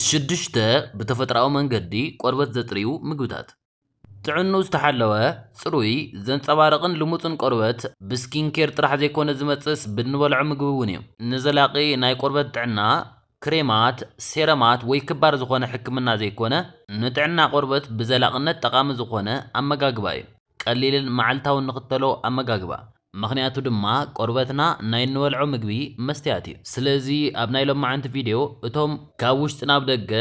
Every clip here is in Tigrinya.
ሽዱሽተ ብተፈጥሮኣዊ መንገዲ ቆርበት ዘጽርዩ ምግብታት። ጥዕንኡ ዝተሓለወ፣ ጽሩይ፣ ዘንጸባርቕን ልሙጽን ቆርበት ብስኪን ኬር ጥራሕ ዘይኮነ ዝመጽእስ ብእንበልዖ ምግቢ እውን እዩ። ንዘላቒ ናይ ቆርበት ጥዕና፣ ክሬማት፣ ሴረማት ወይ ክባር ዝኾነ ሕክምና ዘይኮነ፣ ንጥዕና ቆርበት ብዘላቕነት ጠቓሚ ዝኾነ ኣመጋግባ እዩ። ቀሊልን መዓልታውን ንኽተሎ ኣመጋግባ። ምኽንያቱ ድማ ቆርበትና ናይ እንበልዖ ምግቢ መስትያት እዩ። ስለዚ ኣብ ናይ ሎማዓንቲ ቪድዮ እቶም ካብ ውሽጢ ናብ ደገ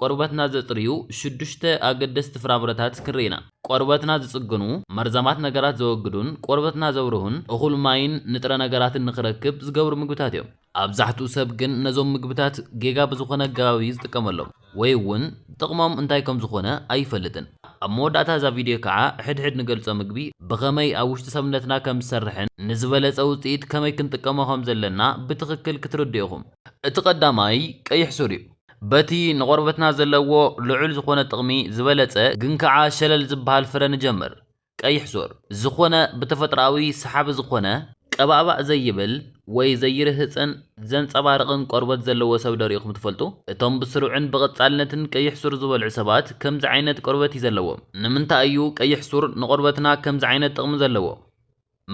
ቆርበትና ዘጽርዩ ሽዱሽተ ኣገደስቲ ፍራምረታት ክንርኢ ኢና። ቆርበትና ዝጽግኑ፣ መርዛማት ነገራት ዘወግዱን ቆርበትና ዘብርሁን እኹል ማይን ንጥረ ነገራትን ንኽረክብ ዝገብሩ ምግብታት እዮም። ኣብዛሕትኡ ሰብ ግን ነዞም ምግብታት ጌጋ ብዝኾነ ኣገባብ እዩ ዝጥቀመሎም ወይ እውን ጥቕሞም እንታይ ከም ዝኾነ ኣይፈልጥን። ኣብ መወዳእታ እዛ ቪድዮ ከዓ ሕድ ሕድ ንገልፆ ምግቢ ብኸመይ ኣብ ውሽጢ ሰብነትና ከም ዝሰርሕን ንዝበለፀ ውፅኢት ከመይ ክንጥቀሞ ከም ዘለና ብትኽክል ክትርድኡ ኢኹም። እቲ ቀዳማይ ቀይሕ ሱር እዩ። በቲ ንቖርበትና ዘለዎ ልዑል ዝኾነ ጥቕሚ ዝበለፀ ግን ከዓ ሸለል ዝበሃል ፍረ ንጀምር። ቀይሕ ሱር፣ ዝኾነ ብተፈጥሮኣዊ ሰሓቢ ዝኾነ፣ ቀባእባእ ዘይብል ወይ ዘይርህጽን ዘንጸባርቕን ቆርበት ዘለዎ ሰብ ዶ ርኢኹም ትፈልጡ? እቶም ብስሩዕን ብቐጻልነትን ቀይሕ ሱር ዝበልዑ ሰባት ከምዚ ዓይነት ቆርበት እዩ ዘለዎም። ንምንታይ እዩ ቀይሕ ሱር ንቆርበትና ከምዚ ዓይነት ጥቕሚ ዘለዎ?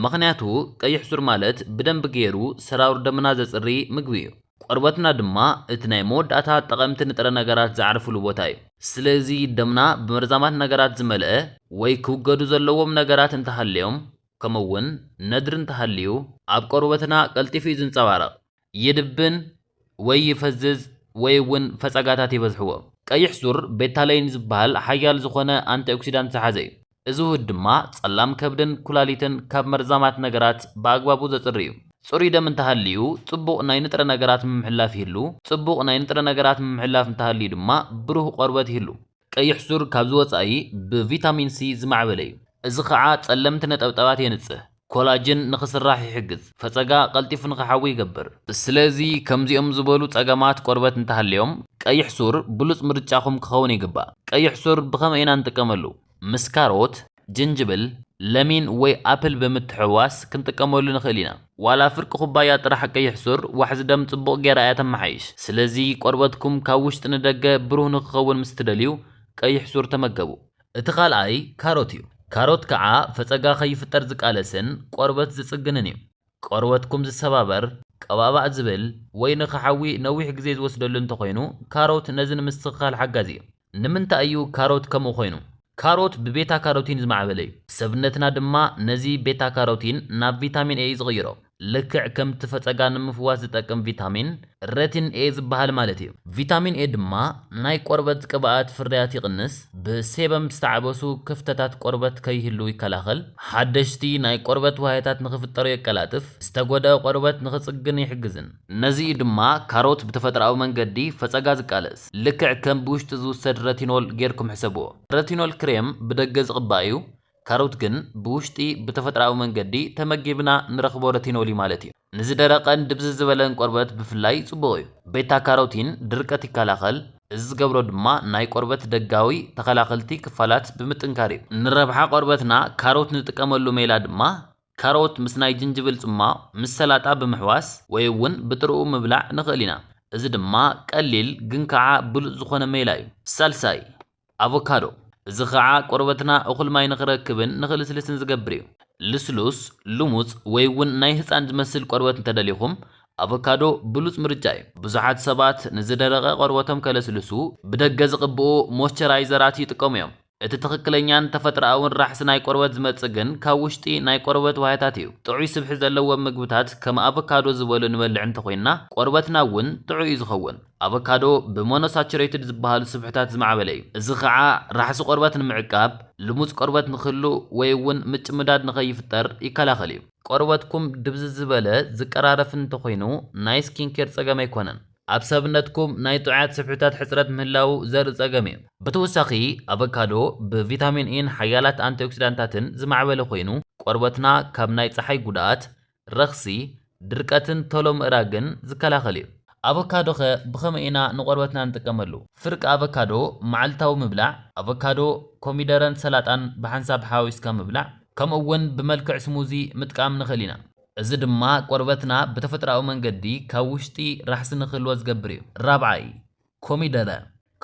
ምኽንያቱ ቀይሕ ሱር ማለት ብደንቢ ገይሩ ሰራውር ደምና ዘጽሪ ምግቢ እዩ። ቆርበትና ድማ እቲ ናይ መወዳእታ ጠቐምቲ ንጥረ ነገራት ዝዓርፍሉ ቦታ እዩ። ስለዚ ደምና ብመርዛማት ነገራት ዝመልኣ ወይ ክውገዱ ዘለዎም ነገራት እንተሃልዮም ከምኡ'ውን ነድሪ እንተሃልዩ ኣብ ቆርበትና ቀልጢፉ እዩ ዝንጸባረቕ። ይድብን ወይ ይፈዝዝ ወይ እውን ፈጸጋታት ይበዝሕዎ። ቀይሕ ሱር ቤታለይን ዝበሃል ሓያል ዝኾነ ኣንቲኦክሲዳንት ዝሓዘ እዩ። እዚ ውህድ ድማ ጸላም ከብድን ኩላሊትን ካብ መርዛማት ነገራት ብኣግባቡ ዘጽሪ እዩ። ጽሩይ ደም እንተሃልዩ ጽቡቕ ናይ ንጥረ ነገራት ምምሕላፍ ይህሉ፣ ጽቡቕ ናይ ንጥረ ነገራት ምምሕላፍ እንተሃልዩ ድማ ብሩህ ቆርበት ይህሉ። ቀይሕ ሱር ካብዚ ወጻኢ ብቪታሚን ሲ ዝማዕበለ እዩ፣ እዚ ኸኣ ጸለምቲ ነጠብጣባት የንጽህ፣ ኮላጅን ንኽስራሕ ይሕግዝ፣ ፈጸጋ ቀልጢፉ ንኽሓዊ ይገብር። ስለዚ ከምዚኦም ዝበሉ ጸገማት ቆርበት እንተሃልዮም ቀይሕ ሱር ብሉጽ ምርጫኹም ክኸውን ይግባእ። ቀይሕ ሱር ብኸመይ ኢና እንጥቀመሉ? ምስ ካሮት፣ ጅንጅብል፣ ለሚን ወይ ኣፕል ብምትሕውዋስ ክንጥቀመሉ ንኽእል ኢና። ዋላ ፍርቂ ኩባያ ጥራሕ ቀይሕ ሱር ዋሕዚ ደም ጽቡቕ ገይራ እያ ተመሓይሽ። ስለዚ ቆርበትኩም ካብ ውሽጢ ንደገ ብሩህ ንኽኸውን ምስ ትደልዩ ቀይሕ ሱር ተመገቡ። እቲ ካልኣይ ካሮት እዩ። ካሮት ከዓ ፈፀጋ ከይፍጠር ዝቃለስን ቆርበት ዝፅግንን እዩ። ቆርበትኩም ዝሰባበር፣ ቀባእባእ ዝብል፣ ወይ ንኽሓዊ ነዊሕ ግዜ ዝወስደሉ እንተኾይኑ፣ ካሮት ነዚ ንምስትኽኻል ሓጋዚ እዩ። ንምንታይ እዩ ካሮት ከምኡ ኮይኑ? ካሮት ብቤታ ካሮቲን ዝማዕበለ እዩ። ሰብነትና ድማ ነዚ ቤታ ካሮቲን ናብ ቪታሚን ኤ እዩ ዝቕይሮ። ልክዕ ከምቲ ፈጸጋ ንምፍዋስ ዝጠቅም ቪታሚን ረቲን ኤ ዝበሃል ማለት እዩ። ቪታሚን ኤ ድማ ናይ ቆርበት ቅብኣት ፍርያት ይቕንስ፣ ብሴበም ዝተዓበሱ ክፍተታት ቆርበት ከይህልዉ ይከላኸል፣ ሓደሽቲ ናይ ቆርበት ዋህያታት ንኽፍጠሩ የቀላጥፍ፣ ዝተጎድኣ ቆርበት ንኽጽግን ይሕግዝን። ነዚ እዩ ድማ ካሮት ብተፈጥሮኣዊ መንገዲ ፈጸጋ ዝቃለስ። ልክዕ ከም ብውሽጢ ዝውሰድ ረቲኖል ጌርኩም ሕሰብዎ። ረቲኖል ክሬም ብደገ ዝቕባእ እዩ፣ ካሮት ግን ብውሽጢ ብተፈጥራዊ መንገዲ ተመጊብና ንረኽቦ ረቲኖሊ ማለት እዩ። ንዝደረቐን ድብዝዝ ዝበለን ቆርበት ብፍላይ ጽቡቕ እዩ። ቤታ ካሮቲን ድርቀት ይከላኸል፣ እዚ ዝገብሮ ድማ ናይ ቆርበት ደጋዊ ተኸላኸልቲ ክፋላት ብምጥንካር እዩ። ንረብሓ ቆርበትና ካሮት ንጥቀመሉ ሜላ ድማ ካሮት ምስ ናይ ጅንጅብል ጽሟቕ ምስ ሰላጣ ብምሕዋስ ወይ እውን ብጥርኡ ምብላዕ ንኽእል ኢና። እዚ ድማ ቀሊል ግን ከዓ ብሉጽ ዝኾነ ሜላ እዩ። ሳልሳይ። ኣቮካዶ፣ እዚ ኸኣ ቆርበትና እኹል ማይ ንኽረክብን ንኽልስልስን ዝገብር እዩ። ልስሉስ፣ ልሙጽ ወይ እውን ናይ ህጻን ዝመስል ቆርበት እንተደሊኹም፣ ኣቮካዶ ብሉጽ ምርጫ እዩ። ብዙሓት ሰባት ንዝደረቐ ቆርበቶም ከለስልሱ ብደገ ዝቕብኡ ሞይስቸራይዘራት ይጥቀሙ እዮም። እቲ ትኽክለኛን ተፈጥሮኣውን ራሕሲ ናይ ቆርበት ዝመጽእ ግን ካብ ውሽጢ ናይ ቆርበት ዋህያታት እዩ። ጥዑይ ስብሒ ዘለዎም ምግብታት ከም ኣቮካዶ ዝበሉ ንበልዕ እንተኾይንና፣ ቆርበትና እውን ጥዑይ እዩ ዝኸውን። ኣቮካዶ ብሞኖሳቹሬትድ ዝበሃሉ ስብሕታት ዝማዕበለ እዩ፣ እዚ ኸኣ ራሕሲ ቆርበት ንምዕቃብ፣ ልሙጽ ቆርበት ንኽህሉ ወይ እውን ምጭምዳድ ንኸይፍጠር ይከላኸል እዩ። ቆርበትኩም ድብዝዝ ዝበለ፣ ዝቀራረፍን እንተኾይኑ ናይ ስኪንኬር ጸገም ኣይኮነን። ኣብ ሰብነትኩም ናይ ጥዑያት ስብሕታት ሕጽረት ምህላዉ ዘርኢ ጸገም እዩ። ብተወሳኺ ኣቮካዶ ብቪታሚን ኢን ሓያላት ኣንቲኦክሲዳንታትን ዝማዕበለ ኮይኑ፣ ቆርበትና ካብ ናይ ጸሓይ ጉድኣት፣ ረኽሲ፣ ድርቀትን ቶሎ ምእራግን ዝከላኸል እዩ። ኣቮካዶ'ኸ ብኸመይ ኢና ንቆርበትና ንጥቀመሉ? ፍርቂ ኣቮካዶ መዓልታዊ ምብላዕ፣ ኣቮካዶ፣ ኮሚደረን ሰላጣን ብሓንሳብ ሓዋዊስካ ምብላዕ፣ ከምኡ'ውን ብመልክዕ ስሙዚ ምጥቃም ንኽእል ኢና። እዚ ድማ ቆርበትና ብተፈጥሮኣዊ መንገዲ ካብ ውሽጢ ራሕሲ ንኽህልዎ ዝገብር እዩ። ራብዓይ፣ ኮሚደረ፣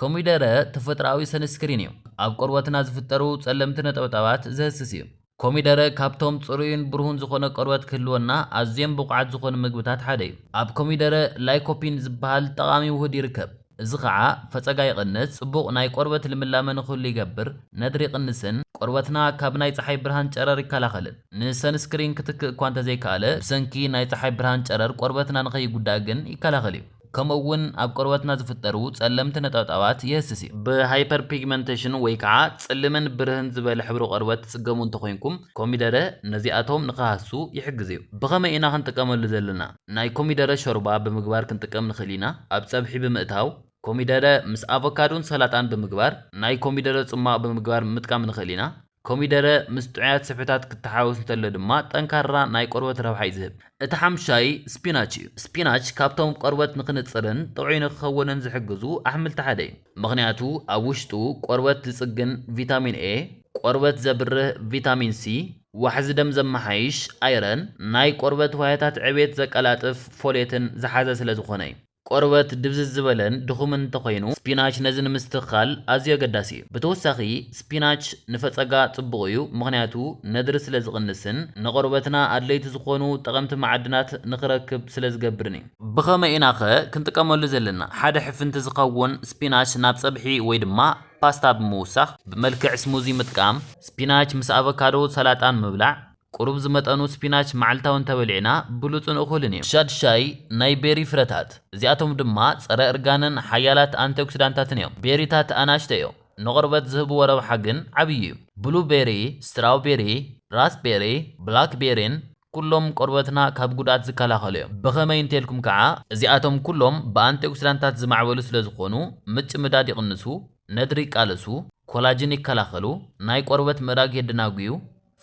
ኮሚደረ ተፈጥሮኣዊ ሰንስክሪን እዩ፣ ኣብ ቆርበትና ዝፍጠሩ ጸለምቲ ነጠብጣባት ዘህስስ እዩ። ኮሚደረ ካብቶም ጽሩይን ብሩህን ዝኾነ ቆርበት ክህልወና ኣዝዮም ብቑዓት ዝኾኑ ምግብታት ሓደ እዩ። ኣብ ኮሚደረ ላይኮፒን ዝበሃል ጠቓሚ ውሁድ ይርከብ፣ እዚ ኸኣ ፈጸጋ ይቕንስ፣ ጽቡቕ ናይ ቆርበት ልምላመ ንክህሉ ይገብር፣ ነድሪ ይቕንስን ቆርበትና ካብ ናይ ጸሓይ ብርሃን ጨረር ይከላኸልን። ንሰንስክሪን ክትክእ እኳ እንተዘይከኣለ፣ ብሰንኪ ናይ ጸሓይ ብርሃን ጨረር ቆርበትና ንኸይጉዳእ ግን ይከላኸል እዩ። ከምኡ እውን ኣብ ቆርበትና ዝፍጠሩ ጸለምቲ ነጠብጣባት የህስስ እዩ። ብሃይፐርፒግመንተሽን ወይ ከዓ ጽልምን ብርህን ዝበለ ሕብሪ ቆርበት ትጽገሙ እንተኾይንኩም ኮሚደረ ነዚኣቶም ንክሃስሱ ይሕግዝ እዩ። ብኸመይ ኢና ክንጥቀመሉ ዘለና? ናይ ኮሚደረ ሾርባ ብምግባር ክንጥቀም ንኽእል ኢና፣ ኣብ ጸብሒ ብምእታው፣ ኮሚደረ ምስ ኣቮካዶን ሰላጣን ብምግባር፣ ናይ ኮሚደረ ጽሟቕ ብምግባር ምጥቃም ንኽእል ኢና። ኮሚደረ ምስ ጥዑያት ስብሕታት ክተሓዋወስ እንተሎ ድማ ጠንካራ ናይ ቆርበት ረብሓ እዩ ዝህብ። እቲ ሓምሻይ ስፒናች እዩ። ስፒናች ካብቶም ቆርበት ንክንጽርን ጥዑይ ንክኸውንን ዝሕግዙ ኣሕምልቲ ሓደ እዩ። ምኽንያቱ ኣብ ውሽጡ ቆርበት ዝጽግን ቪታሚን ኤ፣ ቆርበት ዘብርህ ቪታሚን ሲ፣ ዋሕዚ ደም ዘመሓይሽ ኣይረን፣ ናይ ቆርበት ዋህያታት ዕብየት ዘቀላጥፍ ፎሌትን ዝሓዘ ስለዝኾነ እዩ። ቆርበት ድብዝዝ ዝበለን ድኹምን እንተኾይኑ፣ ስፒናች ነዚ ንምስትኽኻል ኣዝዩ ኣገዳሲ እዩ። ብተወሳኺ ስፒናች ንፈጸጋ ጽቡቕ እዩ፣ ምኽንያቱ ነድሪ ስለ ዝቕንስን ንቆርበትና ኣድለይቲ ዝኾኑ ጠቐምቲ መዓድናት ንኽረክብ ስለ ዝገብርን እዩ። ብኸመይ ኢናኸ ክንጥቀመሉ ዘለና? ሓደ ሕፍንቲ ዝኸውን ስፒናች ናብ ጸብሒ ወይ ድማ ፓስታ ብምውሳኽ፣ ብመልክዕ ስሙዚ ምጥቃም፣ ስፒናች ምስ ኣቮካዶ ሰላጣን ምብላዕ፣ ቁሩብ ዝመጠኑ ስፒናች መዓልታዊ እንተበሊዕና ብሉጽን እኹልን እዩ። ሻድ ሻይ ናይ ቤሪ ፍረታት፣ እዚኣቶም ድማ ጸረ እርጋንን ሓያላት ኣንቲኦክሲዳንታትን እዮም። ቤሪታት ኣናእሽተይ እዮም፣ ንቆርበት ዝህብዎ ረብሓ ግን ዓብዪ እዩ። ብሉ ቤሪ፣ ስትራው ቤሪ፣ ራስ ቤሪ፣ ብላክ ቤሪን ኩሎም ቆርበትና ካብ ጉድኣት ዝከላኸሉ እዮም። ብኸመይ እንተልኩም ከኣ? እዚኣቶም ኩሎም ብኣንቲኦክሲዳንታት ዝማዕበሉ ስለ ዝኾኑ ምጭምዳድ ይቕንሱ፣ ነድሪ ይቃለሱ፣ ኮላጅን ይከላኸሉ፣ ናይ ቆርበት ምእራግ የደናጉዩ፣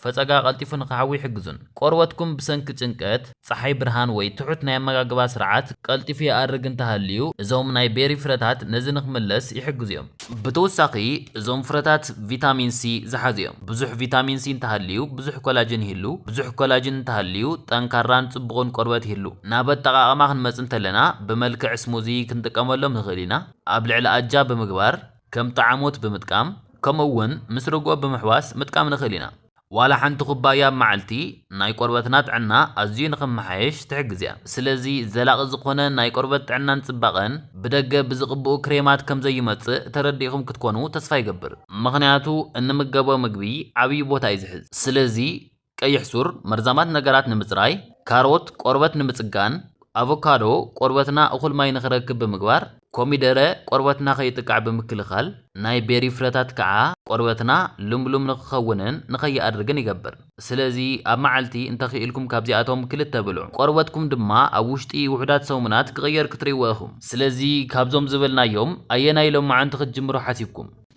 ፈጸጋ ቀልጢፉ ንኽሓዊ ይሕግዙን። ቆርበትኩም ብሰንኪ ጭንቀት፣ ጸሓይ ብርሃን ወይ ትሑት ናይ ኣመጋግባ ስርዓት ቀልጢፉ ይኣርግ እንተሃልዩ፣ እዞም ናይ ቤሪ ፍረታት ነዚ ንኽምለስ ይሕግዙ እዮም። ብተወሳኺ እዞም ፍረታት ቪታሚን ሲ ዝሓዙ እዮም። ብዙሕ ቪታሚን ሲ እንተሃልዩ ብዙሕ ኮላጅን ይህሉ። ብዙሕ ኮላጅን እንተሃልዩ ጠንካራን ጽቡቕን ቆርበት ይህሉ። ናብ ኣጠቓቕማ ክንመጽእ እንተለና ብመልክዕ ስሙዚ ክንጥቀመሎም ንኽእል ኢና፣ ኣብ ልዕሊ ኣጃ ብምግባር። ከም ጠዓሞት ብምጥቃም ከምኡ እውን ምስ ርግኦ ብምሕዋስ ምጥቃም ንኽእል ኢና። ዋላ ሓንቲ ኩባያ ኣብ መዓልቲ ናይ ቆርበትና ጥዕና ኣዝዩ ንኽመሓየሽ ትሕግዝ እያ። ስለዚ ዘላቒ ዝኾነ ናይ ቆርበት ጥዕናን ፅባቐን ብደገ ብዝቕብኡ ክሬማት ከምዘዩመፅእ ተረዲእኹም ክትኮኑ ተስፋ ይገብር። ምኽንያቱ እንምገቦ ምግቢ ዓብዪ ቦታ እዩ ዝሕዝ። ስለዚ ቀይሕ ሱር መርዛማት ነገራት ንምጽራይ፣ ካሮት ቆርበት ንምጽጋን፣ ኣቮካዶ ቆርበትና እኹል ማይ ንኽረክብ ብምግባር፣ ኮሚደረ ቆርበትና ከይጥቃዕ ብምክልኻል፣ ናይ ቤሪ ፍረታት ከኣ ቆርበትና ልምሉም ንኽኸውንን ንኸይኣርግን ይገብር። ስለዚ ኣብ መዓልቲ እንተኽኢልኩም ካብዚኣቶም ክልተ ብልዑ። ቆርበትኩም ድማ ኣብ ውሽጢ ውሑዳት ሰሙናት ክቕየር ክትርእይዎ ኢኹም። ስለዚ ካብዞም ዝበልናዮም ኣየናይ ሎምዓንቲ ክትጅምሩ ሓሲብኩም?